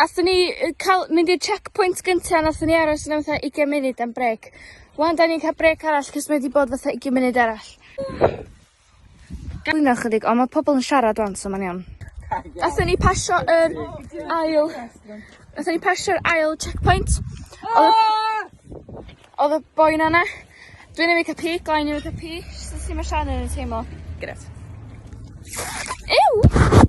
Athon ni yy ca'l mynd i'r checkpoint gynta nathon ni aros yna am fatha ugian munud am brêc. Ŵan 'dan ni'n ca'l brêc arall 'c'os mae 'di bod fatha ugian munud arall. Cwyno chydig on' ma' pobol yn siarad ŵan so ma'n iawn. Nathon ni pasio yr ail nathon ni pasio'r ail checkpoint. Odd y boi 'na 'na. Dwi newydd ca'l pic o I newydd ca'l pic. Sut ma' Sian yn teimlo? Grêt. Ew!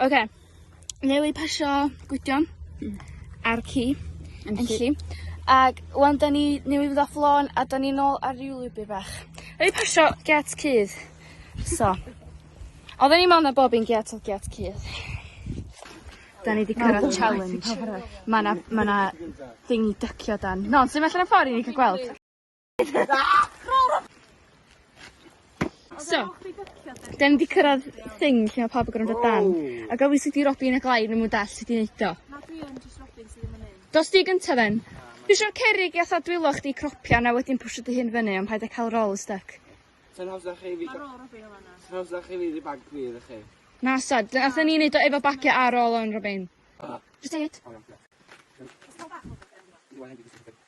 Oce. Newy pasio Gwydion. Hmm. Ar ci. Enlli. Ag ŵan 'dan ni newydd fynd off lôn a 'dan ni nôl ar ryw lwybyr bach. Newy pasio gêt cudd. So. Odden ni mewn ar bob un gêt odd gêt cudd. 'Dan ni 'di cyrradd challenge. Ma' 'na ma' 'na thing i dycio dan. Na ond swn i allan y ffor i ni ca'l gweld. So, da ni 'di cyrraedd thing lle ma' pawb yn gorod mynd o dan. A gawn ni sut i Robin a Glaid ddim yn dallt sut i neud o. Na dwi yn jyst Robin sy ddim yn neud. Dos di gynta then. Dwi isio'r cerrig i atha dwylo chdi cropia na wedyn pwsio dy hun fyny ond paid a ca'l roll styc. Sa'n hawsa chi fi... Ma'n ôl Robin yn fanna. Sa'n hawsa chi fi dy bag fi iddo chi? Na sad, dy- atha ni neud o efo bagia ar ôl o'n Robin. Jyst deud.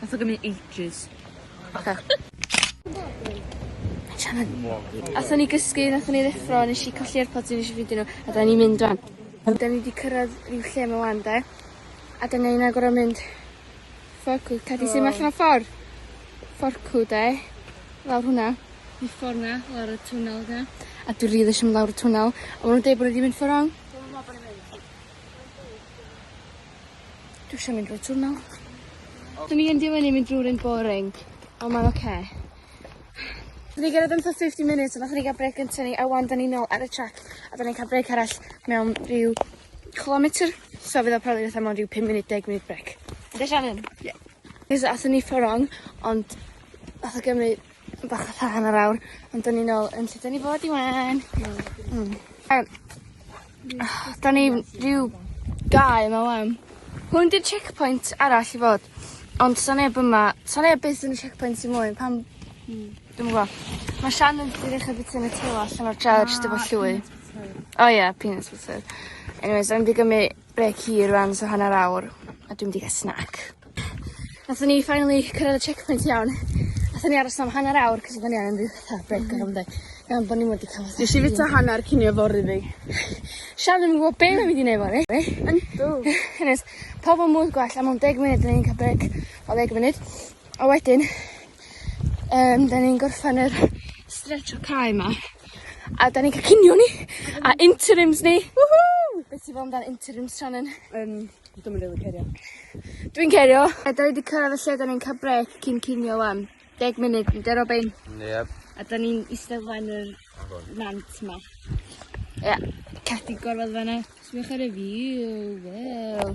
Nath o gymryd ages. Oce. Fedrai'm yn. Athon ni gysgu nathon ni ddeffro nesh i colli Airpods fi nesh i ffindio n'w a 'dan ni'n mynd rŵan. Ydan ni 'di cyrradd ryw lle 'ma ŵan 'de? A 'dan ni angan gor'o' mynd fforcw ta di sy' 'ma allan o ffor? Fforcw 'de? Lawr hwnna. Y ffor 'na lawr y twnnel 'na. A dwi rili isio mynd lawr y twnnel. A ma' nw'n deud bo' ni 'di mynd ffor rong. Dwi'm yn me'wl bo' ni mynd. Dwi eisiau mynd drwy twnnel. Dyn ni yn di mynd mynd drwy'r un boring, ond mae'n oce. Okay. Dyn ni gyrraedd yn 50 minutes, ond nath ni gael breg yn tynnu, a wan dyn ni nôl ar y track, a dyn ni'n cael breg arall mewn rhyw kilometr, so fydd o probably fatha mewn rhyw 5 munud, 10 munud breg. Ydy Shannon? Ie. Yeah. Nes athyn ni fforong, ond nath o gymryd Bach o tha hanner awr, ond dyn ni nôl yn lle dyn ni fod i wan. Mm. Da ni ryw gae yma wan. Hwn di'r checkpoint arall i fod. Ond sa neb yma. Sa neb byth yn y checkpoint i mwy pam... Hmm. Dwi'm yn gwbo. Ma' Shan yn ddi ddechra bita Nutella allan o'r jar jyst efo llwy. O ie peanuts butter. Anyways rai' ni gymry Brêc hir rŵan so hanner awr a dwi mynd i ga'l snack. Nathon ni finally cyrraedd y checkpoint iawn. Nathon ni aros am hanner awr 'c'os odden ni angen ryw fatha brêc or rwbeth. Iawn bo' ni wedi ca'l fatha... Nesh i fita hanner cinio fory fi. Sian ddim yn gwbo be' mae'n mynd i neud fory. Yndw. Anyways pawb yn mwyd gwell a mewn deg munud 'dyn ni'n ca'l brêc o ddeg munud. A wedyn, yym 'dan ni'n gorffen yr stretch y cae 'ma, a 'dan ni'n ca'l cinio ni, a interims ni! Whoo! Be' ti'n feddwl amdan interims Shannon? Yym, dwi'm yn rili cerio. Dwi'n cerio. A 'dan ni 'di cyrraedd y lle 'dan ni'n ca'l brêc cyn cinio ŵan. Deg munud, ynde Robin? Yep. A 'dan ni'n iste flaen yr nant 'ma. Ie. Ceffyl gorwedd fan 'na. Sbïwch ar y view, waw.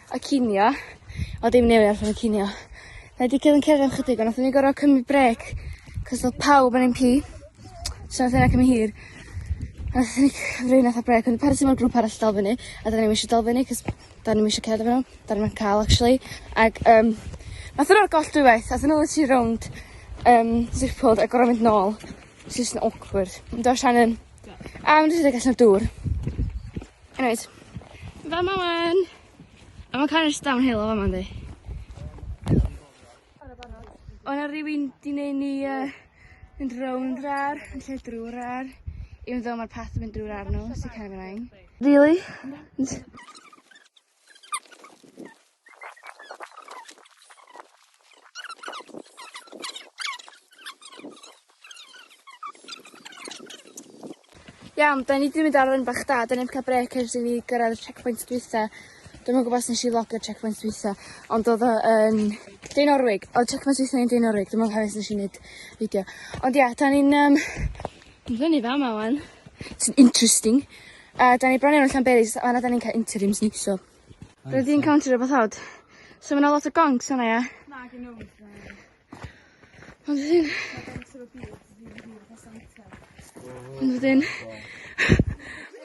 y cinio. O dim newydd allan y cinio. Na di cael yn cerdded am chydig, ond nath ni gorau cymryd brec, cos oedd pawb yn ein pi. So nath yna cymryd hir. Nath ni rwy'n nath a brec, ond parti mae'r grŵp arall dal fyny, a da ni eisiau dal fyny, cos da ni eisiau cerdded fyny, da ni'n cael actually. Ac um, nath yna'r goll dwy waith, nath yna literally rownd um, zipod a gorau mynd nôl. It's just awkward. Yn do Shannon? A ma'n rhedeg allan o'r dŵr. Anyways, fama wan! A ma'n cael ers downhill o fama yndi? O' 'na rywun 'di neud ni yy mynd rownd yr ar, yn lle drw'r ar, even though ma'r path yn mynd drw'r ar nw, so kind of annoying. Rili? Iawn, 'dan ni 'di mynd ar run bach da, 'dan ni 'di ca'l brêc ers i ni gyrraedd y checkpoint dwytha. Dwi'm yn gwbo os nesh i vlogio'r checkpoint dwytha ond o'dd o yn Dinorwig. O'dd checkpoint dwytha ni yn Dinorwig dwi'm yn cofio os nesh i neud fideo. Ond ia 'dan ni'n yym Dwi'n fyny fa ma wan. Sy'n interesting. A da ni bron iawn allan berries, a na da ni'n cael interims ni, so. Rydyn ni'n encounter rhywbeth hod. So mae yna lot o gongs yna, ia? Na, gen nhw. Ond ydyn... Ond ydyn...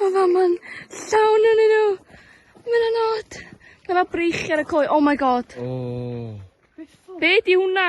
Mae fa ma'n llawn yn nhw. Mae yna not. Mae yna breichiau ar y coe. Oh my god. Oh. Be di hwnna?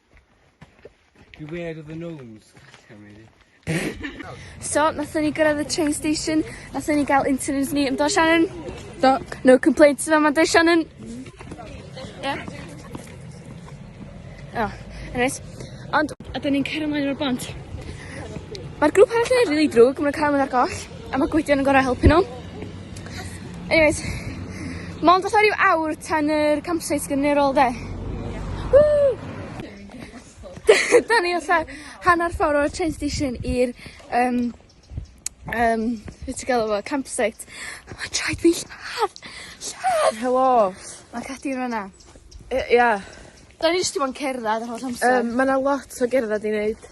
Beware of the gnomes. so, nathon ni gyrraedd y train station, nathon ni gael interviews ni, yn do Shannon? Do. No complaints yma, mae'n do Shannon? Yeah. Oh, anyways. Ond, a dyn ni'n cael ymlaen o'r bont. Mae'r grŵp arall yn ei rili drwg, mae'n cael ymlaen ar goll, a mae gwydion yn gorau helpu nhw. Anyways, mond fatha ryw awr tan yr campsite gyniferol 'de? Woo! 'Dan ni fatha hannar ffor o'r train station i'r yym yym be' ti galw fo campsite. Ma'n traed fi lladd! Lladd! Helo! Ma' Cadi yn fan 'na. Yy ia. 'Dan ni jyst 'di bo' yn cerddad yr holl amser. Yym ma' 'na lot o gerddad i neud.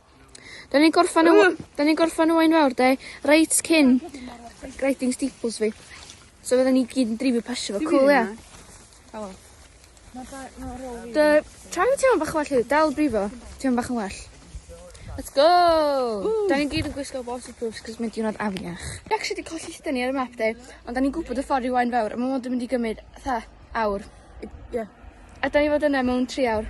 'Dan ni'n gorffan y w-... 'Dan ni'n gorffan y wain fawr 'de? Reit cyn grading steeples fi. So fyddan ni gyd yn dreifio pasio fo. Cŵl ia? O. Ma' ba- ma' rôl fi... Dy tra fi teimlo bach yn well hefyd dal brifo. Teimlo bach yn well. Let's go! Ww! 'Dan ni gyd yn gwisgo waterproofs 'c'os mae'n diwrnod afiach. Fi actually 'di colli iste ni ar y map 'de ond 'dan ni'n gwbod y ffor i Waun Fawr a ma' 'wn 'di mynd i gymyd fatha awr. I- ia. A 'dan ni fod yna mewn tri awr.